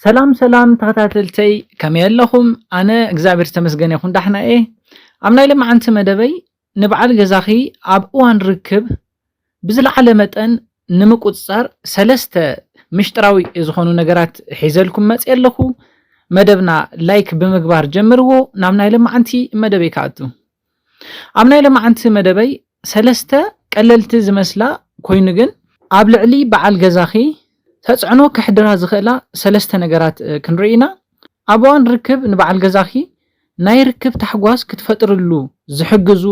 ሰላም ሰላም ተኸታተልተይ ከመይ ኣለኹም ኣነ እግዚኣብሔር ዝተመስገነ ይኹን ዳሕና እየ ኣብ ናይ ለማዓንቲ መደበይ ንበዓል ገዛኺ ኣብ እዋን ርክብ ብዝለዓለ መጠን ንምቁፅፃር ሰለስተ ምሽጥራዊ ዝኾኑ ነገራት ሒዘልኩም መፅየ ኣለኹ መደብና ላይክ ብምግባር ጀምርዎ ናብ ናይ ለማዓንቲ መደበይ ክኣቱ ኣብ ናይ ለማዕንቲ መደበይ ሰለስተ ቀለልቲ ዝመስላ ኮይኑ ግን ኣብ ልዕሊ በዓል ገዛኺ ተፅዕኖ ከሕድራ ዝኽእላ ሰለስተ ነገራት ክንርኢ ኢና። ኣብ እዋን ርክብ ንበዓል ገዛኺ ናይ ርክብ ታሕጓስ ክትፈጥርሉ ዝሕግዙ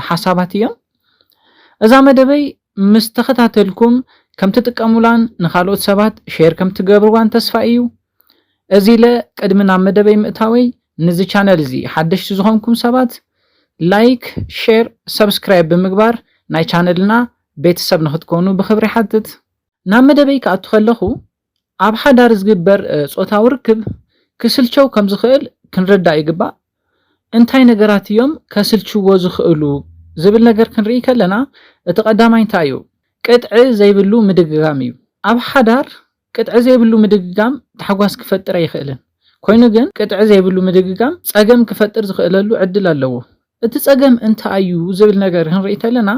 ሓሳባት እዮም። እዛ መደበይ ምስ ተኸታተልኩም ከም ትጥቀሙላን ንኻልኦት ሰባት ሼር ከም ትገብርዋን ተስፋ እዩ። እዚ ኢለ ቅድሚ ናብ መደበይ ምእታወይ ንዚ ቻነል እዚ ሓደሽቲ ዝኾንኩም ሰባት ላይክ ሼር ሰብስክራይብ ብምግባር ናይ ቻነልና ቤተሰብ ንኽትኮኑ ብኽብሪ ይሓትት። ናብ መደበይ ክኣቱ ከለኹ ኣብ ሓዳር ዝግበር ጾታዊ ርክብ ክስልቸው ከም ዝኽእል ክንርዳእ ይግባእ። እንታይ ነገራት እዮም ከስልችዎ ዝኽእሉ ዝብል ነገር ክንርኢ ከለና እቲ ቀዳማይ እንታይ እዩ ቅጥዒ ዘይብሉ ምድግጋም እዩ። ኣብ ሓዳር ቅጥዒ ዘይብሉ ምድግጋም ታሕጓስ ክፈጥር ኣይኽእልን። ኮይኑ ግን ቅጥዒ ዘይብሉ ምድግጋም ፀገም ክፈጥር ዝኽእለሉ ዕድል ኣለዎ። እቲ ፀገም እንታይ እዩ ዝብል ነገር ክንርኢ ተለና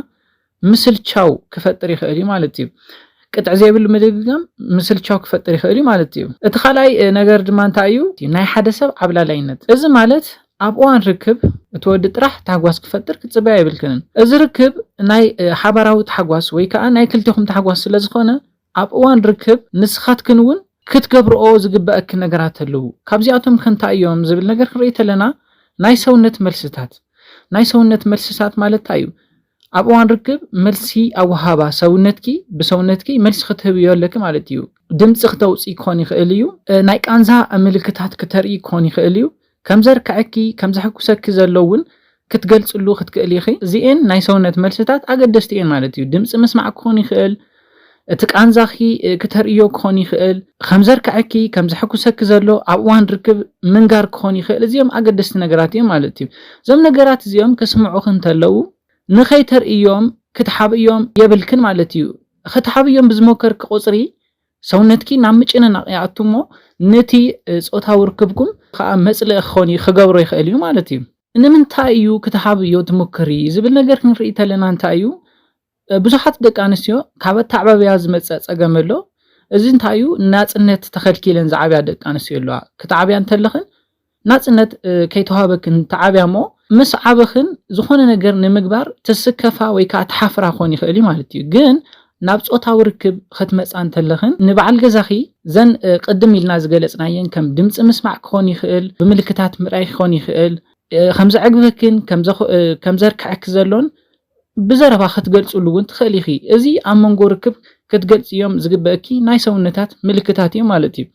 ምስልቻው ክፈጥር ይኽእል እዩ ማለት እዩ። ቅጥዒ ዘይብሉ ምድግጋም ምስልቻው ክፈጥር ይኽእል እዩ ማለት እዩ። እቲ ካልኣይ ነገር ድማ እንታይ እዩ? ናይ ሓደ ሰብ ዓብላላይነት። እዚ ማለት ኣብ እዋን ርክብ እቲ ወዲ ጥራሕ ታሕጓስ ክፈጥር ክትፅበያ የብልክንን። እዚ ርክብ ናይ ሓባራዊ ታሕጓስ ወይ ከዓ ናይ ክልቴኹም ታሕጓስ ስለዝኾነ ኣብ እዋን ርክብ ንስኻትክን እውን ክትገብርኦ ዝግበኣክን ነገራት ኣለዉ። ካብዚኣቶምከ እንታይ እዮም ዝብል ነገር ክንርኢ ተለና ናይ ሰውነት መልስታት ናይ ሰውነት መልስታት ማለት እንታይ እዩ? ኣብ እዋን ርክብ መልሲ ኣወሃህባ ሰውነትኪ ብሰውነትኪ መልሲ ክትህብዮ ኣለኪ ማለት እዩ። ድምጺ ክተውጽኢ ክኾን ይኽእል እዩ። ናይ ቃንዛ ምልክታት ክተርኢ ክኾን ይኽእል እዩ። ከም ዘርክዐኪ፣ ከም ዘሐጉሰኪ ዘሎ እውን ክትገልጽሉ ክትክእሊ ኢኺ። እዚኤን ናይ ሰውነት መልስታት ኣገደስቲ እየን ማለት እዩ። ድምጺ ምስማዕ ክኾን ይኽእል፣ እቲ ቃንዛኺ ክተርእዮ ክኾን ይኽእል፣ ከም ዘርክዐኪ፣ ከም ዘሐጉሰኪ ዘሎ ኣብ እዋን ርክብ ምንጋር ክኾን ይኽእል፣ እዚኦም ኣገደስቲ ነገራት እዮም ማለት እዩ። እዞም ነገራት እዚኦም ክስምዑኺ እንተለዉ ንኸይተርእይዮም ክትሓብእዮም የብልክን ማለት እዩ። ኽትሓብእዮም ብዝሞከርኪ ቁጽሪ ሰውነትኪ ናብ ምጭንናቕ ይኣቱ እሞ ነቲ ጾታዊ ርክብኩም ከኣ መጽልኢ ክኸውን ክገብሮ ይኽእል እዩ ማለት እዩ። ንምንታይ እዩ ክትሃብዮ ትሙክሪ ዝብል ነገር ክንርኢ ተለና እንታይ እዩ ብዙሓት ደቂ ኣንስትዮ ካብ ኣተዓባብያ ዝመጸ ጸገም ኣሎ እዚ እንታይ እዩ ናጽነት ተኸልኪለን ዝዓብያ ደቂ ኣንስትዮ ኣለዋ ክትዓብያ እንተለኽን ናጽነት ከይተዋህበክን ተዓብያ'ሞ ምስ ዓበኽን ዝኾነ ነገር ንምግባር ትስከፋ ወይ ከኣ ትሓፍራ ክኾን ይኽእል እዩ ማለት እዩ። ግን ናብ ጾታዊ ርክብ ኽትመጻ እንተለኽን ንበዓል ገዛኺ እዘን ቅድም ኢልና ዝገለጽናየን ከም ድምጺ ምስማዕ ክኾን ይኽእል፣ ብምልክታት ምርኣይ ክኾን ይኽእል፣ ከምዘዕግበክን ከምዘርክዐኪ ዘሎን ብዘረባ ክትገልጽሉ እውን ትኽእሊ ኢኺ። እዚ ኣብ መንጎ ርክብ ክትገልጽዮም ዝግበእኪ ናይ ሰውነታት ምልክታት እዩ ማለት እዩ።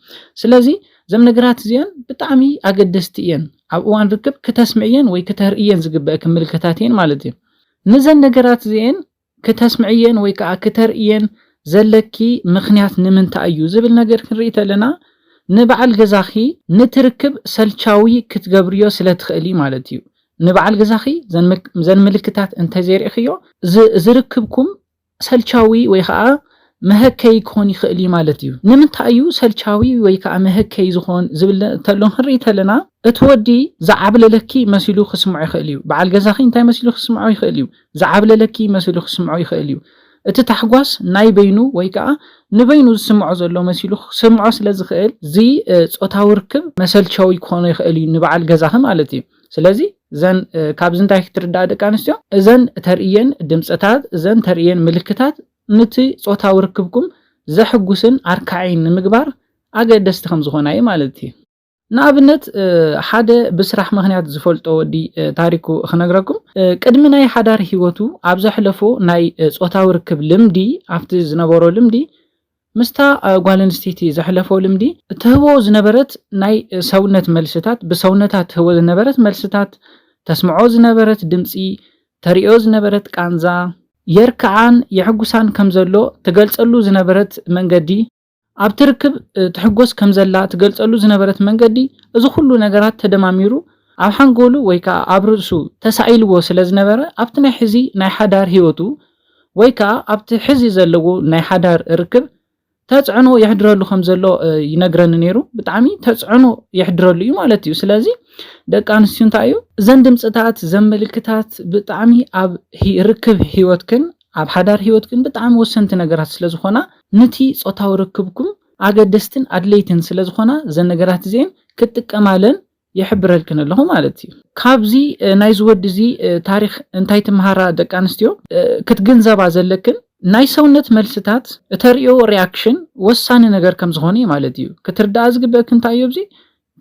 ስለዚ እዘም ነገራት እዚኦን ብጣዕሚ ኣገደስቲ እየን። ኣብ እዋን ርክብ ክተስምዕየን ወይ ክተርእየን ዝግበእኪ ምልክታት እየን ማለት እዩ። ንዘን ነገራት እዚኤን ክተስምዕየን ወይ ከኣ ክተርእየን ዘለኪ ምኽንያት ንምንታይ እዩ ዝብል ነገር ክንርኢ ተለና ንበዓል ገዛኺ ንቲ ርክብ ሰልቻዊ ክትገብርዮ ስለ ትኽእሊ ማለት እዩ። ንበዓል ገዛኺ ዘን ምልክታት እንተዘይርኢኽዮ ዝርክብኩም ሰልቻዊ ወይ ከዓ መሀከይ ክኾን ይኽእል እዩ ማለት እዩ። ንምንታይ እዩ ሰልቻዊ ወይ ከዓ መሀከይ ዝኾን ዝብል ተሎ ክንርኢ ተለና እቲ ወዲ ዝዓብለለኪ መሲሉ ክስምዖ ይኽእል እዩ። በዓል ገዛኺ እንታይ መሲሉ ክስምዖ ይኽእል እዩ? ዝዓብለለኪ መሲሉ ክስምዖ ይኽእል እዩ። እቲ ታሕጓስ ናይ በይኑ ወይ ከዓ ንበይኑ ዝስምዖ ዘሎ መሲሉ ክስምዖ ስለ ዝኽእል እዚ ጾታዊ ርክብ መሰልቸዊ ክኾኖ ይኽእል እዩ ንበዓል ገዛኺ ማለት እዩ። ስለዚ እዘን ካብዚ እንታይ ክትርዳእ ደቂ ኣንስትዮ እዘን ተርእየን ድምፅታት እዘን ተርእየን ምልክታት ንቲ ፆታዊ ርክብኩም ዘሕጉስን ኣርካዒን ንምግባር ኣገደስቲ ከም ዝኾና እዩ ማለት እዩ ንኣብነት ሓደ ብስራሕ ምክንያት ዝፈልጦ ወዲ ታሪኩ ክነግረኩም ቅድሚ ናይ ሓዳር ሂወቱ ኣብ ዘሕለፎ ናይ ፆታዊ ርክብ ልምዲ ኣብቲ ዝነበሮ ልምዲ ምስታ ጓል ኣንስተይቲ ዘሕለፎ ልምዲ፣ እትህቦ ዝነበረት ናይ ሰውነት መልስታት፣ ብሰውነታ እትህቦ ዝነበረት መልስታት፣ ተስምዖ ዝነበረት ድምጺ፣ ተርእዮ ዝነበረት ቃንዛ፣ የርክዓን የሕጉሳን ከም ዘሎ ትገልጸሉ ዝነበረት መንገዲ፣ ኣብቲ ርክብ ትሕጎስ ከም ዘላ ትገልጸሉ ዝነበረት መንገዲ፣ እዚ ኹሉ ነገራት ተደማሚሩ ኣብ ሓንጎሉ ወይ ከኣ ኣብ ርእሱ ተሳኢልዎ ስለ ዝነበረ፣ ኣብቲ ናይ ሕዚ ናይ ሓዳር ህይወቱ ወይ ከኣ ኣብቲ ሕዚ ዘለዎ ናይ ሓዳር ርክብ ተጽዕኖ የሕድረሉ ከም ዘሎ ይነግረኒ ነይሩ። ብጣዕሚ ተጽዕኖ የሕድረሉ እዩ ማለት እዩ። ስለዚ ደቂ ኣንስትዩ እንታይ እዩ እዘን ድምጽታት ዘን ምልክታት ብጣዕሚ ኣብ ርክብ ህይወትክን ኣብ ሓዳር ህይወትክን ብጣዕሚ ወሰንቲ ነገራት ስለ ዝኾና ንቲ ጾታዊ ርክብኩም ኣገደስትን ኣድለይትን ስለ ዝኾና እዘን ነገራት እዚኤን ክትጥቀማለን ይሕብረልክን ኣለኹ ማለት እዩ። ካብዚ ናይዚ ወዲ እዚ ታሪኽ እንታይ ትምሃራ ደቂ ኣንስትዮ? ክትግንዘባ ዘለክን ናይ ሰውነት መልስታት እተርእዮ ሪኣክሽን ወሳኒ ነገር ከም ዝኾነ እዩ ማለት እዩ። ክትርድኣ ዝግበእክን እንታይ እዩ ኣብዚ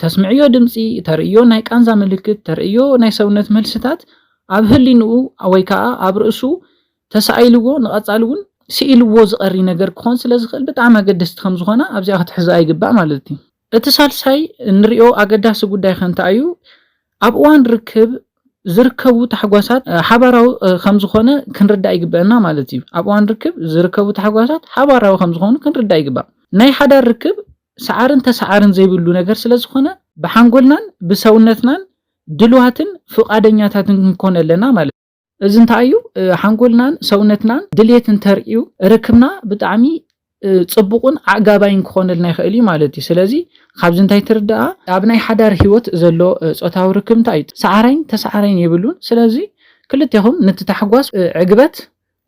ተስምዕዮ ድምጺ፣ ተርእዮ ናይ ቃንዛ ምልክት፣ ተርእዮ ናይ ሰውነት መልስታት ኣብ ህሊንኡ ወይ ከኣ ኣብ ርእሱ ተሳኢልዎ ንቐጻሊ እውን ስኢልዎ ዝቐሪ ነገር ክኾን ስለ ዝኽእል ብጣዕሚ ኣገደስቲ ከም ዝኾና ኣብዚኣ ክትሕዝኣ ይግባእ ማለት እዩ። እቲ ሳልሳይ እንሪኦ ኣገዳሲ ጉዳይ ከ እንታይ እዩ? ኣብ እዋን ርክብ ዝርከቡ ታሕጓሳት ሓባራዊ ከምዝኾነ ክንርዳእ ይግበእና ማለት እዩ። ኣብ እዋን ርክብ ዝርከቡ ታሕጓሳት ሓባራዊ ከምዝኾኑ ክንርዳእ ይግባእ። ናይ ሓዳር ርክብ ሰዓርን ተሰዓርን ዘይብሉ ነገር ስለዝኾነ ብሓንጎልናን ብሰውነትናን ድልዋትን ፍቓደኛታትን ክንኮን ኣለና ማለት እዩ። እዚ እንታይ እዩ ሓንጎልናን ሰውነትናን ድሌት እንተርእዩ ርክብና ብጣዕሚ ፅቡቕን ኣዕጋባይን ክኾነልና ይኽእል እዩ ማለት እዩ ስለዚ ካብዚ እንታይ ትርዳኣ ኣብ ናይ ሓዳር ሂወት ዘሎ ፆታዊ ርክብ እንታይ እዩ ሰዓራይን ተሰዓራይን የብሉን ስለዚ ክልቴኹም ነቲ ታሕጓስ ዕግበት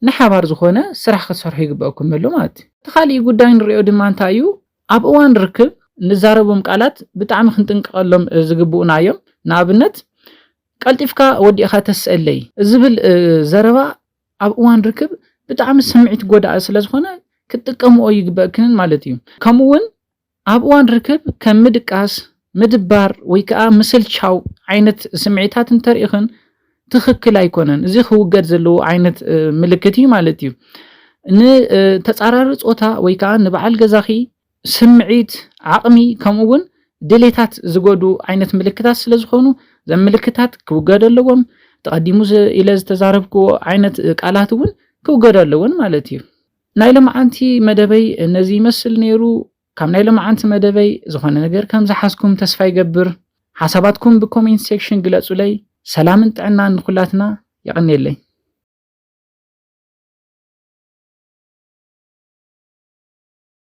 ንሓባር ዝኾነ ስራሕ ክትሰርሑ ይግበኣኩም ኣሎ ማለት እዩ እቲ ካሊእ ጉዳይ ንሪኦ ድማ እንታይ እዩ ኣብ እዋን ርክብ ንዛረቦም ቃላት ብጣዕሚ ክንጥንቀቐሎም ዝግብኡና እዮም ንኣብነት ቀልጢፍካ ወዲእኻ ተስእለይ ዝብል ዘረባ ኣብ እዋን ርክብ ብጣዕሚ ስምዒት ጎዳኢ ስለ ዝኾነ ክትጥቀምኦ ኣይግበእክንን ማለት እዩ። ከምኡ እውን ኣብ እዋን ርክብ ከም ምድቃስ፣ ምድባር ወይ ከዓ ምስልቻው ዓይነት ስምዒታት እንተሪእኽን ትኽክል ኣይኮነን። እዚ ክውገድ ዘለዎ ዓይነት ምልክት እዩ ማለት እዩ። ንተፃራሪ ፆታ ወይ ከዓ ንበዓል ገዛኺ ስምዒት፣ ዓቕሚ ከምኡ እውን ድሌታት ዝጎድኡ ዓይነት ምልክታት ስለ ዝኾኑ ዘም ምልክታት ክውገዱ ኣለዎም። እቲ ቀዲሙ ኢለ ዝተዛረብክዎ ዓይነት ቃላት እውን ክውገዱ ኣለዎን ማለት እዩ። ናይ ለመዓንቲ መደበይ ነዚ ይመስል ነይሩ። ካብ ናይ ለመዓንቲ መደበይ ዝኾነ ነገር ከም ዝሓዝኩም ተስፋ ይገብር። ሓሳባትኩም ብኮሜንት ሴክሽን ግለጹለይ። ሰላምን ጥዕናን ንኹላትና የቐኔለይ።